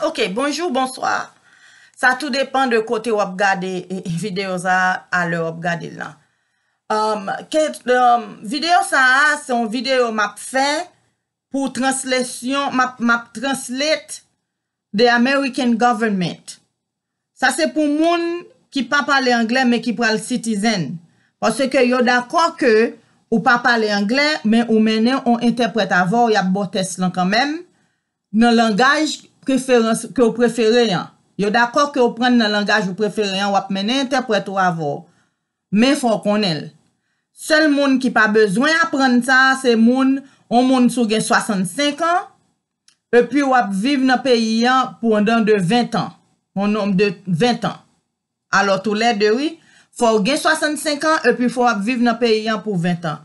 Ok bonjou bonswa sa tou depan de kote wap gade video sa a lè wap gade l lan video sa a se yon video map fè pou translation map translate the American government Sa se pou moun ki pa pale anglè men ki pral citizen. Paske yo dakò ke ou pa pale anglè men ou mennen on entèprèt avè w yap ba w tès lan kanmenm nan langaj preferans ke w prefere an. Yo dakò ke w prann nan langaj ou prefere an wap mennen entèprèt ou avè w men fò w konnen l. Sèl moun ki pa bezwen aprann sa se moun on moun si w gen 65 an Epi w'ap viv nan peyi an pwandan de ventan, yon nonb de ventan. Alò toulède, wi, fò ou gen swasann-senk an epi fò w'ap viv nan peyi an pou ventan.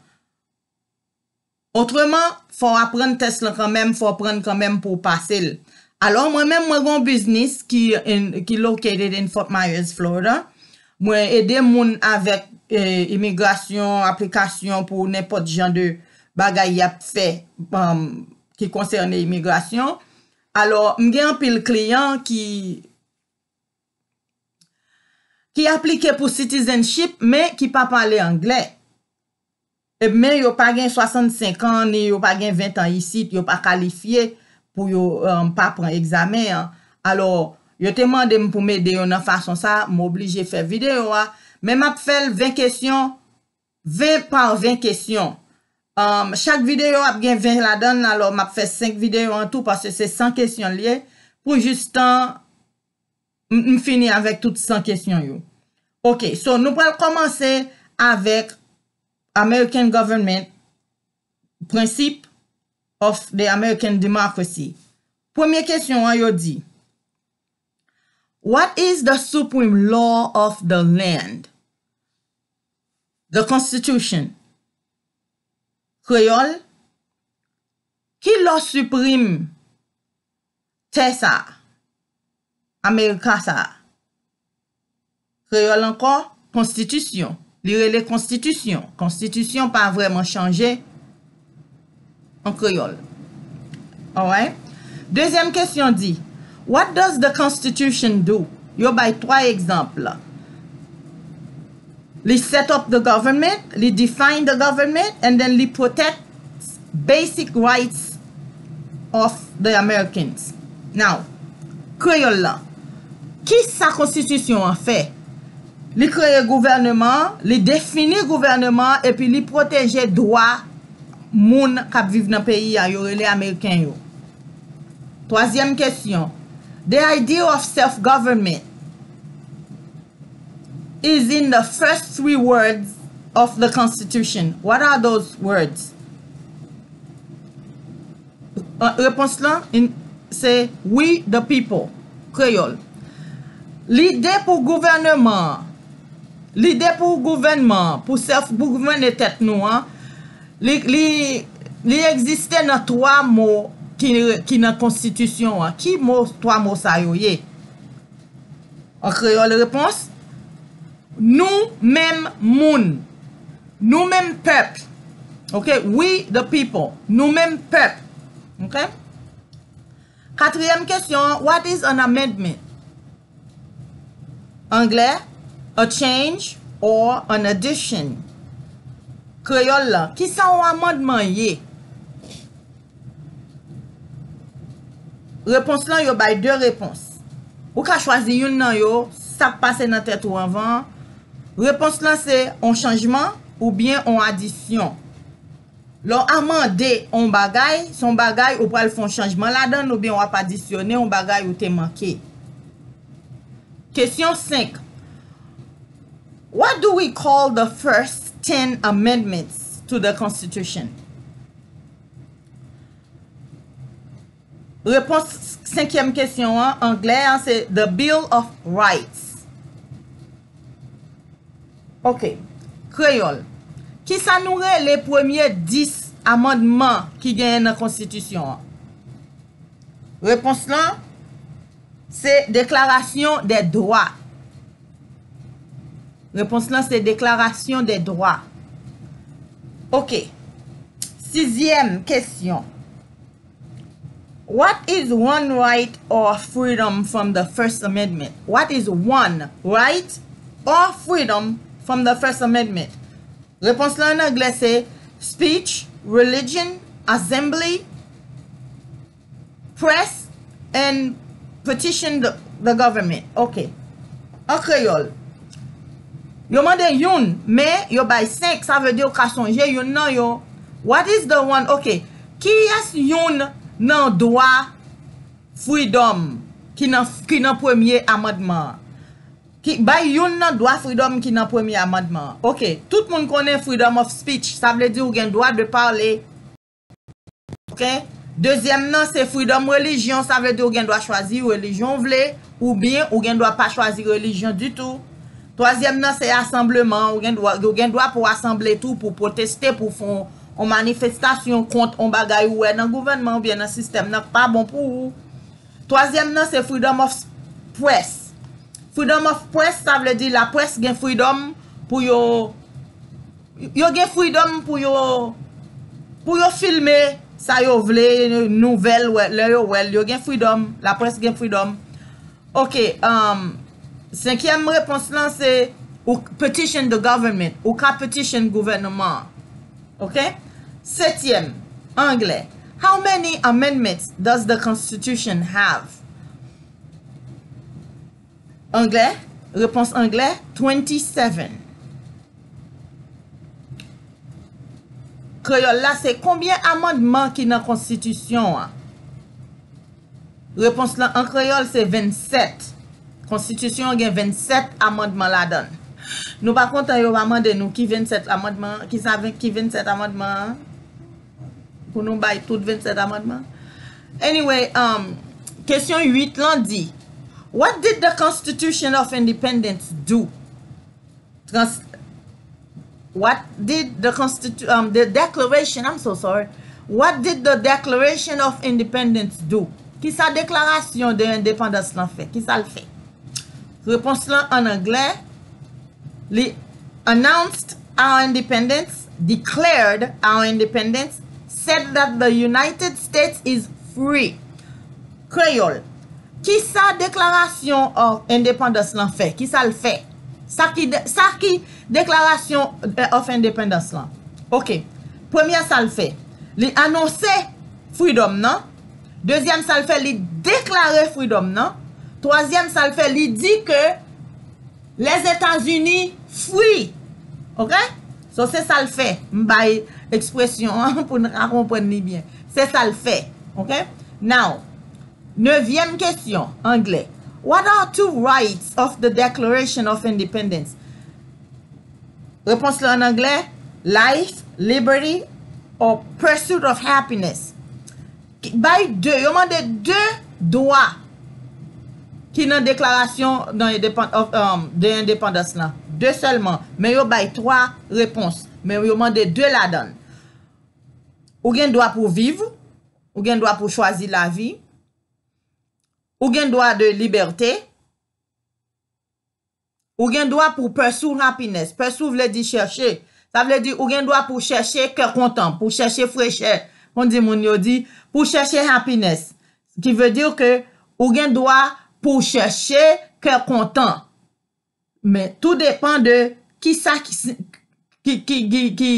Otreman, fò w' aprann tès lan kanmenm, fò w' aprann kanmenm pou w' pase l'. Alò mwen menm, mwen gen yon biznis ki in, ki located in Fort Myers, Florida. Mwen ede moun avèk imigrasyon, aplikasyon pou nenpòt jan de bagay y'ap fè, um. ki konsène imigrasyon. Alò, m gen anpil kliyan ki aplike pou citizenship men ki pa pale angle. E men yo pa gen 65 an, ni yo pa gen 20 an isit, yo pa kalifye pou yo pa pran egzamen an. Alò, yo te mande m pou m ede yo nan fason sa, m oblije fè videyo a. Men m ap fè l 20 kesyon 20 par 20 kesyon Umm chak videyo ap gen 20 ladan l alò m ap fè 5 videyo an tou paske se 100 kesyon l ye pou jis tan m fini avèk tout 100 kesyon yo ok so nou pral kòmanse avèk American government prensip of the American democracy premye kesyon an yo di What is the supreme law of the land? The Constitution, Kreyòl, Ki lò siprim tè sa a, Amerika sa a? Kreyòl ankò, Konstitisyon, Li rele Konstitisyon, Konstitisyon pa vrèman chanje. an kreyòl. Alright. Dezyèm kesyon di, What does the Constitution do? Yo bay twa egzanp, Li set up the government, li define the government, and then li protect basic rights of the Americans. Now, kreyòl la, Kisa konstitisyon an fè? Li kreye gouvèneman an, li defini gouvèneman an epi li pwoteje dwa moun k ap viv nan peyi a yo rele Ameriken yo. Twazyèm kesyon, The idea of self-government is in the first three words of the Constitution. What are those words? Repons lan se We the people, Kreyòl, Lide pou gouvèneman an Lide pou gouvènman an pou sèf pou gouvène tèt nou an li egziste nan twa mo ki nan konstitisyon an. Ki mo twa mo sa yo ye? An kreyòl repons, Nou menm moun. Nou menm pèp. Ok, We the people. Nou menm pèp. Ok. Katriyèm kesyon an, What is an amendment? Anglè, A change or an addition. Kreyòl la, Kisa yon amandman ye? Repons lan yo bay 2 repons. Ou ka chwazi youn nan yo, sa k pase nan tèt ou anvan an. Repons lan se on chanjman oubyen on adisyon. Lè w amande on bagay, se on bagay ou pral fè on chanjman ladan l oubyen w ap adisyone on bagay ou te manke. Kesyon 5 What do we call the first ten amendments to the Constitution? Repons senkyèm kesyon an, anglè an, se The Bill of Rights. Ok. Kreyòl, Ki sa nou rele premye 10 amandman ki genyen nan konstitisyon an? Repons lan, se Deklarasyon dè dwa. Repons lan se deklarasyon de dwa. Ok. Sizyèm kesyon. What is one right or freedom from the first amendment? What is one right or freedom from the first amendment? Repons lan an anglè se speech, religion, assembly. Press and petition the government ok an kreyòl Yo mande youn men yo bay senk sa vle di ou ka sonje youn nan yo What is the one ok Kiyès youn nan dwa freedom ki nan premye amandman an Bay youn nan dwa freedom ki nan premye amandman an ok Tout moun konnen freedom of speech sa vle di ou gen dwa de pale Ok dezyèm nan se freedom religion sa vle di ou gen dwa chwazi religion ou vle ou byen ou gen dwa pa chwazi religion ditou twazyèm nan se assemblement ou gen dwa ou gen dwa pou asanble tou pou proteste pou fon on manifestation kont on bagay ou wè nan gouvènman ou byen nan sistèm nan k pa bon pou ou twazyèm nan se freedom of press freedom of press sa vle di la press gen freedom pou yo. Yo gen freedom pou yo pou yo filme sa yo vle nouvel lè yo wèl yo gen freedom la presse gen freedom ok umm 5 yèm repons lan se ou petition the government ou ka petition gouvènman ok 7 yèm anglè how many amendments does the constitution have? Anglè, Repons anglè, twenty seven. Kreyòl la se Konbyen amandman ki nan konstitisyon an? Repons lan an kreyòl se venn sèt. Konstitisyon an gen venn sèt amandman ladan l. Nou pa kontan yo pa mande nou ki venn sèt amandman an? Ki sa ki venn sèt amandman an? Pou nou bay tout 27 amandman? Anyway, kesyon 8 lan di, What did the Constitution of Independence do? What did the Constitution, the Declaration, I'm so sorry, What did the Declaration of Independence do? Ki sa deklarasyon de endepandans lan fè? Ki sa l fè? Repons lan an anglè. Li announced our independence, declared our independence, said that the United States is free. Kreyòl, Kisa deklarasyon of endepandans lan fè? Kisa l fè? Sa ki Sa ki deklarasyon of endepandans lan? Ok. Premyè sa l fè, li anonse freedom nan. Dezyèm sa l fè, li deklare freedom nan. Twazyèm sa l fè, li di ke. Lèzetazini free ok so se sal fè m bay ekspresyon an pou n ka konprann li byen se sal fè ok now nevyèm kesyon anglè what are two rights of the declaration of independence repons la an anglè life liberty or pursuit of happiness Bay de, yo mande de dwa ki nan deklarasyon de endepandans lan. De sèlman. Men yo bay twa repons. Men yo mande de ladan l. Ou gen dwa pou viv. Ou gen dwa pou chwazi lavi. Ou gen dwa de libète. Ou gen dwa pou w pursue happiness. Pursue vle di chèche. Sa vle di ou gen dwa pou w chèche kè kontan, pou w chèche frechè, kondi moun yo di, pou w chèche happiness. Ce qui veut dire que ou gen dwa pou w chèche kè kontan. Men tou depan de kisa ki, ki, ki, ki, ki.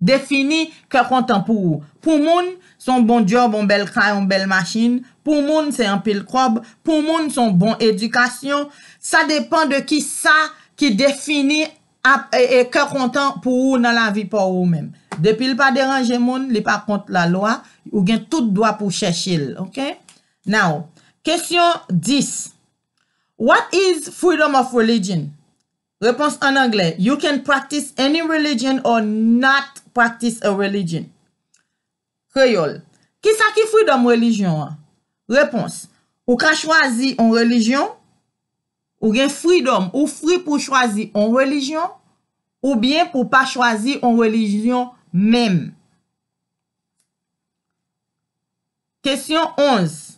Defini kè kontan pou ou. Pou moun, se yon bon djòb, yon bèl kay, yon bèl machin. Pou moun, se anpil kòb. Pou moun, se yon bon edikasyon. Sa depan de ki sa ki defini kè kontan pou ou nan lavi pa w ou menm. Depi l pa deranje moun, li pa kont lalwa, ou gen tout dwa pou w chèche l. Ok? Now, kesyon 10, What is freedom of religion? Repons an anglè You can practice any religion or not practice a religion Kreyòl Kisa ki freedom relijyon an? Repons Ou ka chwazi on relijyon Ou gen freedom, ou free pou w chwazi on relijyon oubyen pou w pa chwazi on relijyon menm. Kesyon 11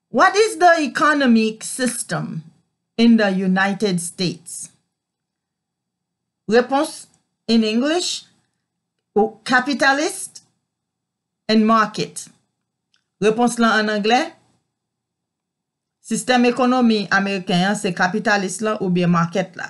What is the economic system in the United States? Repons, in English, Capitalist and market Repons lan an anglè, Sistèm ekonomi ameriken an se kapitalis lan oubyen market la.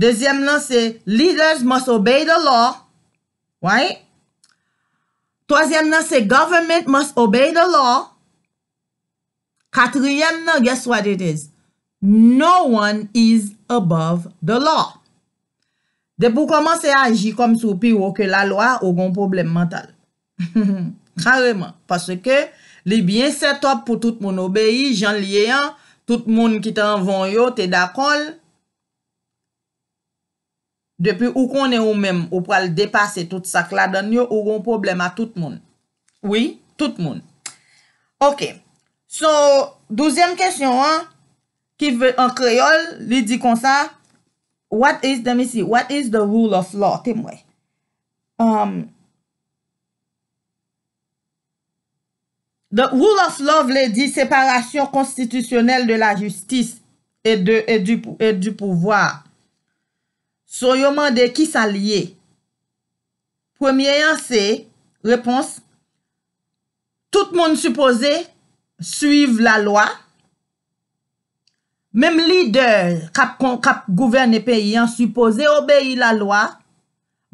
Dezyèm lan se leaders must obey the law. Right? Twazyèm lan se government must obey the law. Katriyèm lan, guess what it is? No one is above the law. Depi w kòmanse aji kòmsi w pi wo ke lalwa, ou gen yon pwoblèm mantal. Kareman, paske li byen sètòp pou tout moun obeyi, jan l ye an, tout moun ki te anvan w yo te dakò l, depi ou konnen ou menm ou pral depase tout sa k ladan l yo, ou gen yon pwoblèm a tout moun. Wi, tout moun. Ok, so, douzyèm kesyon an, ki vle an kreyòl, li di konsa, What is, let me see, what is the rule of law? Te m wè. The rule of law vle di separasyon konstitisyonèl de la jistis e di pouvwa. So yo mande ki sa l ye? Premye an se, repons, tout moun sipoze swiv lalwa. Menm lidè kap gouvène peyi an sipoze obeyi la lwa,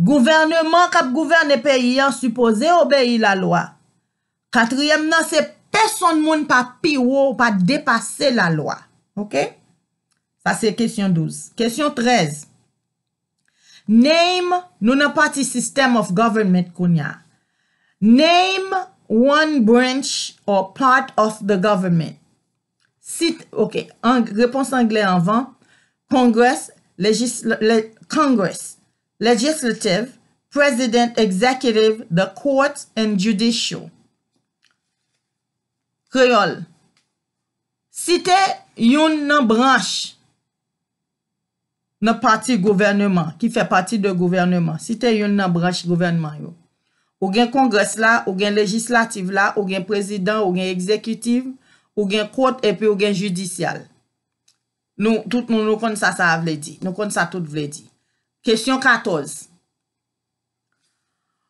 gouvèneman kap gouvène peyi an sipoze obeyi la lwa. Katriyèm nan se pesonn moun pa pi wo ou pa depase la lwa. Ok? Sa se kesyon 12. Kesyon 13. Name, Nou nan pati System of Government kounya. Name one branch or part of the government. Site, ok, repons angle anvan, Congress, Congress, Legislative, President, Executive, the Courts and Judicial. Kreyòl, Site youn nan branch nan pati gouvèneman, ki fè pati de gouvèneman, si te youn nan branch gouvènman yo. Ou gen Kongrès la, ou gen Lejislativ la, ou gen Prezidan, ou gen Egzekitiv, ou gen Kot epi ou gen Jidisyal. Nou, tout moun nou konn sa sa a vle di. Nou konn sa tout vle di. Kesyon 14.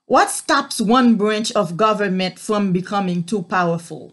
What stops one branch of government from becoming too powerful?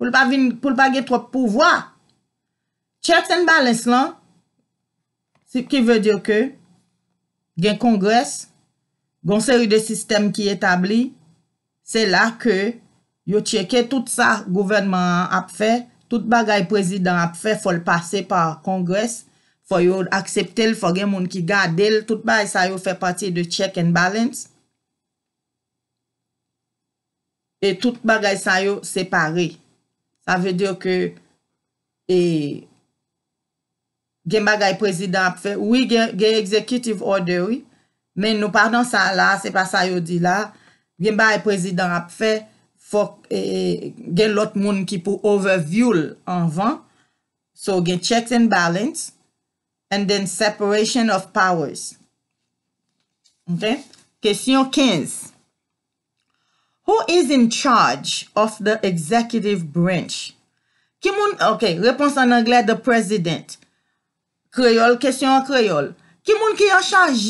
pou l pa vin, pou l pa gen twòp pouvwa. Checks and balance lan, si ki vle di ke gen kongres, gon seri de sistèm ki etabli, se la ke yo cheke tout sa gouvènman an ap fè, tout bagay prezidan ap fè fò l pase pa kongres, fò yo aksepte l, fò gen moun ki gade l, tout bagay sa yo fè pati de check and balance. E tout bagay sa yo separe. Sa vle dire ke e gen bagay prezidan ap fè. Wi gen executive order wi. Men nou pa nan sa la, se pa sa yo di la. Gen bagay prezidan ap fè, fòk e gen lòt moun ki pou overview l anvan. So gen checks and balance and then separation of powers. Ok? Kesyon 15. Who is in charge of the executive branch? Ki moun, ok, repons an anglè, the president. Kreyòl, kesyon an kreyòl. Ki moun ki an chaj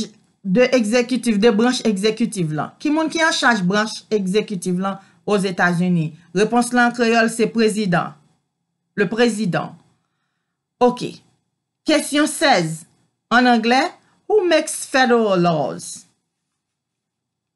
de egzekitif, de branch egzekitif lan? Ki moun ki an chaj branch egzekitif lan Ozetazini? Repons lan an kreyòl se prezidan, le président. Ok. Kesyon 16, an anglè, Who makes federal laws?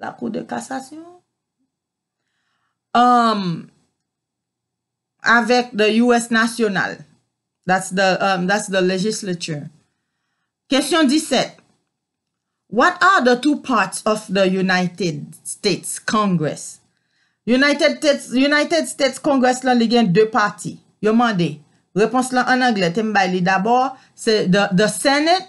La kou de kasasyon. Avèk the US national. That's the legislature. Kesyon 17. What are the two parts of the United States Congress? United States Congress la li gen 2 pati. Yo mande. Repons la an anglè. Te m bay li dabò. The Senate.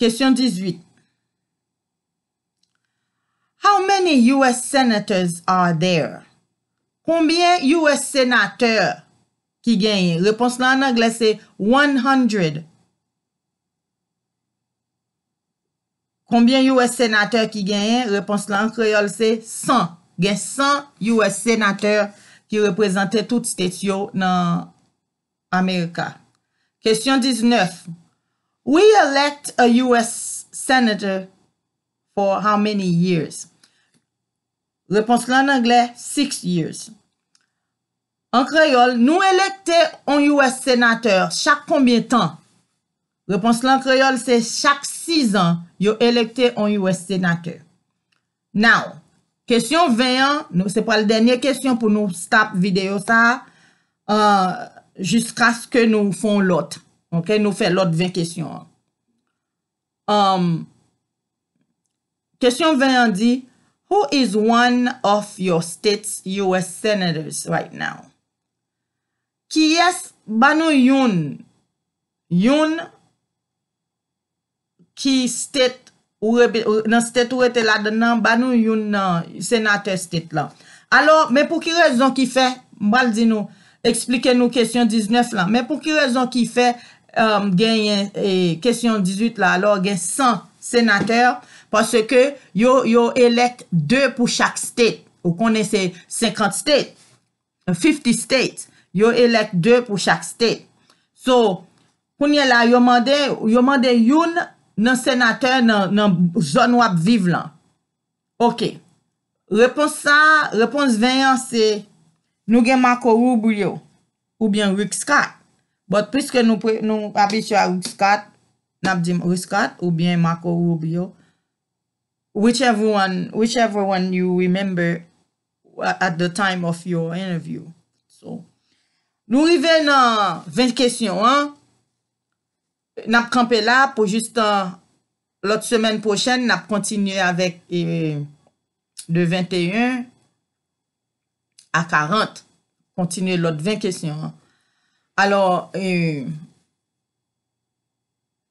Kesyon 18 How many US senators are there? Konbyen US senatè ki genyen? Repons la an anglè se one hundred. Konbyen US senatè ki genyen? Repons la an kreyòl se san. Gen san US senatè ki reprezante tout state yo nan America. Kesyon 19, We elect a US Senator for how many years? Repons lan an anglè, six years. An kreyòl, nou elekte yon US Senatè chak konbyen tan? Repons lan an kreyòl se chak sizan yo elekte yon US Senatè. Now, kesyon 20 an, nou se pral dènye kesyon pou nou stop videyo sa a, jiskaske nou fon lòt, ok, nou fè lòt 20 kesyon an. Umm. Kesyon 20 an di, Who is one of your state's US senators right now? Kiyès, ba nou youn, youn. ki state ou nan state ou rete ladan nan ba nou youn nan senatè state lan alò men pou ki rezon ki fè m pral di nou eksplike nou kesyon 19 lan men pou ki rezon ki fè genyen kesyon 18 la alò gen 100 senatè paske yo elèk 2 pou chak state ou konnen se 50 state 50 state yo elect 2 pou chak state so kounye la yo mande yo mande youn nan senatè nan zòn wap viv lan ok repons sa repons 20 an se nou gen marco rubio ou byen rick scott but piske nou pre nou abitye a rick scott nap di rick scott ou byen marco rubio whichever one whichever one you remember at the time of your interview. So, nou rive nan 20 kesyon an, n ap kanpe la pou jistan lòt semèn pwochèn, n ap kontinye avèk de 21 a 40, kontinye lòt 20 kesyon an. Alò,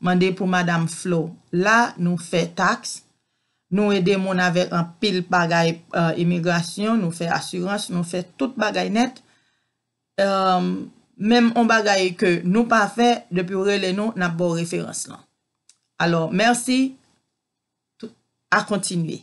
mande pou madam flo la nou fè tax nou ede moun avèk anpil bagay imigrasyon nou fè asirans nou fè tout bagay nèt menm on bagay ke nou pa fè depiw rele nou nap baw referans lan alò mèsi a kontinye.